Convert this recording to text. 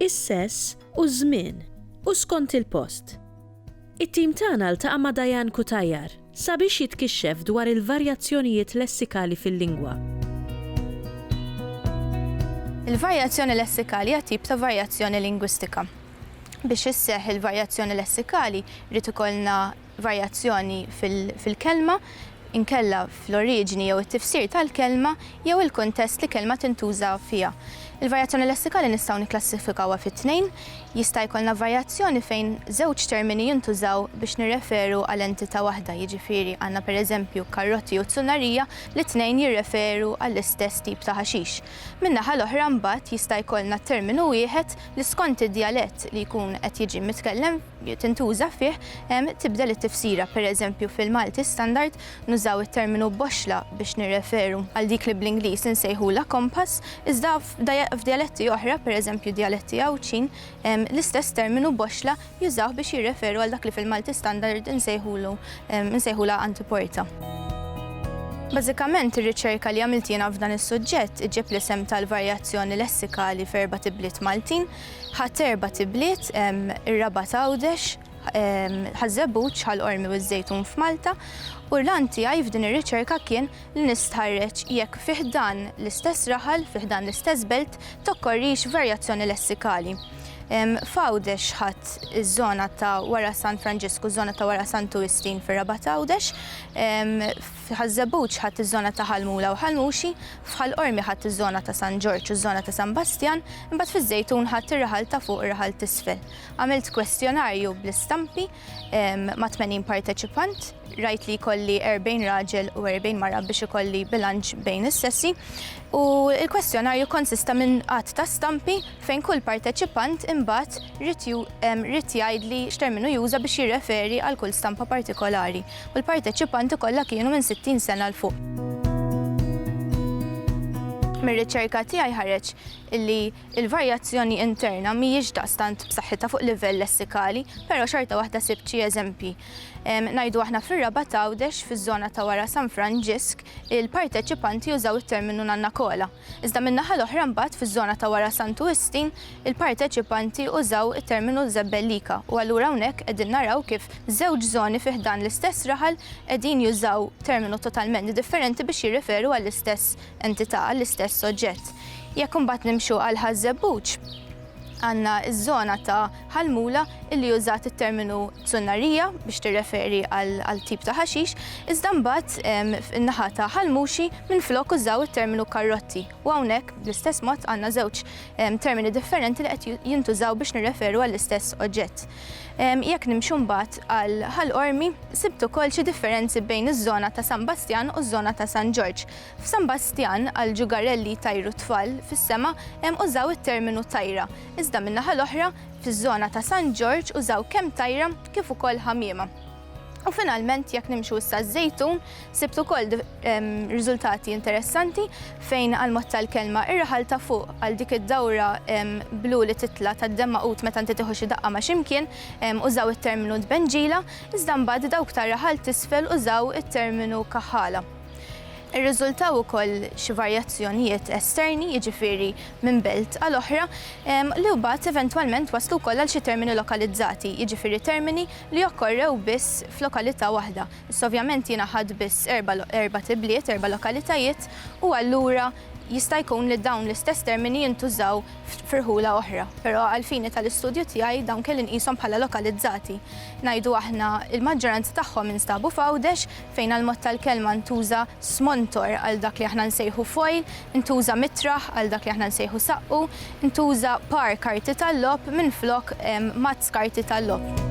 is-sess u ż-żmien, u skont il-post. It-tim tagħna ltaqa' ma' Diane Cutajar sabiex jitkixxef dwar il-varjazzjonijiet lessikali fil-lingwa. Il-varjazzjoni lessikali hija tip ta' varjazzjoni lingwistika. Biex isseħħ il-varjazzjoni lessikali, jrid ikollna varjazzjoni fil-kelma, inkella fl-oriġini jew it-tifsir tal-kelma jew il-kuntest li kelma tintuża fiha. Il-varjazzjoni lessikali nistgħu nikklassifikawha fi tnejn, jista' jkollna varjazzjoni fejn żewġ termini jintużaw biex nirreferu għal entità waħda, jiġifieri għandna pereżempju karrotti u zunarija li t-tnejn jirreferu għall-istess tip ta' ħaxix. Min-naħa l-oħra mbagħad jista' jkollna terminu wieħed li skont id-djalett li jkun qed jiġi mitkellem, tintuża fih, hemm tibdel it-tifsira. Pereżempju, fil-Malti Standard nużaw it-terminu boxxla biex nirreferu għal dik li bl-Ingliż insejħulha compass, iżda f'djaletti oħra, pereżempju djaletti Għawdxin, l-istess terminu boxxla jużawh biex jirreferu għal dak li fil-Malti Standard insejħulu insejħulha antiporta. Bażikament, ir-riċerka li għamilt jiena f'dan is-suġġett iġġib l-isem tal-varjazzjoni lessikali f'erbat ibliet Maltin, Ħadt erbat ibliet, ir-Rabat Għawdex, Ħaż-Żebbuġ, Ħal Qormi u ż-Żejtun f'Malta, u l-għan tiegħi f'din ir-riċerka kien li nistħarreġ jekk fi ħdan l-istess raħal, fi ħdan l-istess belt, tokkorrix varjazzjoni lessikali. F'Għawdex ħadt iż-żona ta' wara San Franġisku, ż-żona ta' wara Santu Wistin fir-Rabat Għawdex, Fi Ħaż-Żebbuġ ħadt iż-żona ta' Ħal Mula u Ħal Muxi, f'Ħal Qormi ħadt iż-żona ta' San Ġorġ u ż-żona ta' San Bastjan, imbagħad fiż-Żejtun ħadt ir-raħal ta' fuq u r-raħal t'isfel. Għamilt kwestjonarju bl-istampi ma' tmenin parteċipant. Rajt li jkolli erbgħin raġel u erbgħin mara biex ikolli bilanċ bejn is-sessi u l-kwestjonarju kkonsista minn għadd ta' stampi fejn kull parteċipant imbagħad ried ried jgħidli x'terminu juża biex jirreferi għal kull stampa partikolari. u l-parteċipanti kollha kienu minn 60 sena 'l fuq. Mir-riċerka tiegħi ħareġ li l-varjazzjoni interna mhijiex daqstant b'saħħitha fuq livell lessikali, però xorta waħda sibt xi eżempji. Ngħidu aħna fir-Rabat Għawdex, fiż-żona ta' wara San Franġisk, il-parteċipanti użaw it-terminu nannakola. Iżda min-naħa l-oħra mbagħad fiż-żona ta' wara Santu Wistin il-parteċipanti użaw it-terminu l-żebbellika u allura hawnhekk qegħdin naraw kif żewġ żoni fi ħdan l-istess raħal qegħdin jużaw terminu totalment differenti biex jirreferu għall-istess entità, għall-istess oġġett. Jekk imbagħad nimxu għal Ħaż-Żebbuġ, Għandna ż-żona ta' Ħal Mula illi użat it-terminu Zunnarija biex tirreferi għal tip ta' ħaxix, iżda mbagħad in-naħa ta' Ħal Muxi minflok użaw it-terminu Karrotti u hawnhekk bl-istess mod għandna żewġ termini differenti li qed jintużaw biex nirreferu għall-istess oġġett. Jekk nimxu mbagħad għal Ħal Qormi, sibt ukoll xi differenzi bejn iż-żona ta' San Bastjan u ż-żona ta' San Ġorġ. F'San Bastjan, għal ġugarell li jtajru t-tfal fis-sema hemm użaw it-terminu tajra, iżda min-naħa l-oħra, fiż-żona ta' San Ġorġ użaw kemm tajra kif ukoll ħamiema. U finalment jekk nimxu issa ż-Żejtun, sibt ukoll riżultati interessanti fejn għall-mod tal-kelma ir-raħal ta' fuq għal dik id-dawra blu li titla' tad-demm magħqud meta inti tieħu xi daqqa ma' x'imkien użaw it-terminu tbenġila, iżda mbagħad dawk tar-raħal t'isfel użaw it-terminu kaħħala. Irriżultaw ukoll xi varjazzjonijiet esterni, jiġifieri minn belt għal oħra, li wbagħad eventwalment waslu wkoll għal xi termini lokalizzati, jiġifieri termini li okkorrew biss f'lokalità waħda. Issa ovvjament jiena ħadt biss erba' erbat ibliet, erba' lokalitajiet, u allura jista' jkun li dawn l-istess termini jintużaw f'irħula oħra, però għall-fini tal-istudju tiegħi dawn kelli nqishom bħala lokalizzati. Ngħidu aħna l-maġġoranza tagħhom instabu f'Għawdex, fejn għall-mod tal-kelma ntuża smontor għal dak li aħna nsejħu foil, intuża mitraħ għal dak li aħna nsejħu saqqu, intuża par karti tal-logħob minflok mazz karti tal-logħob.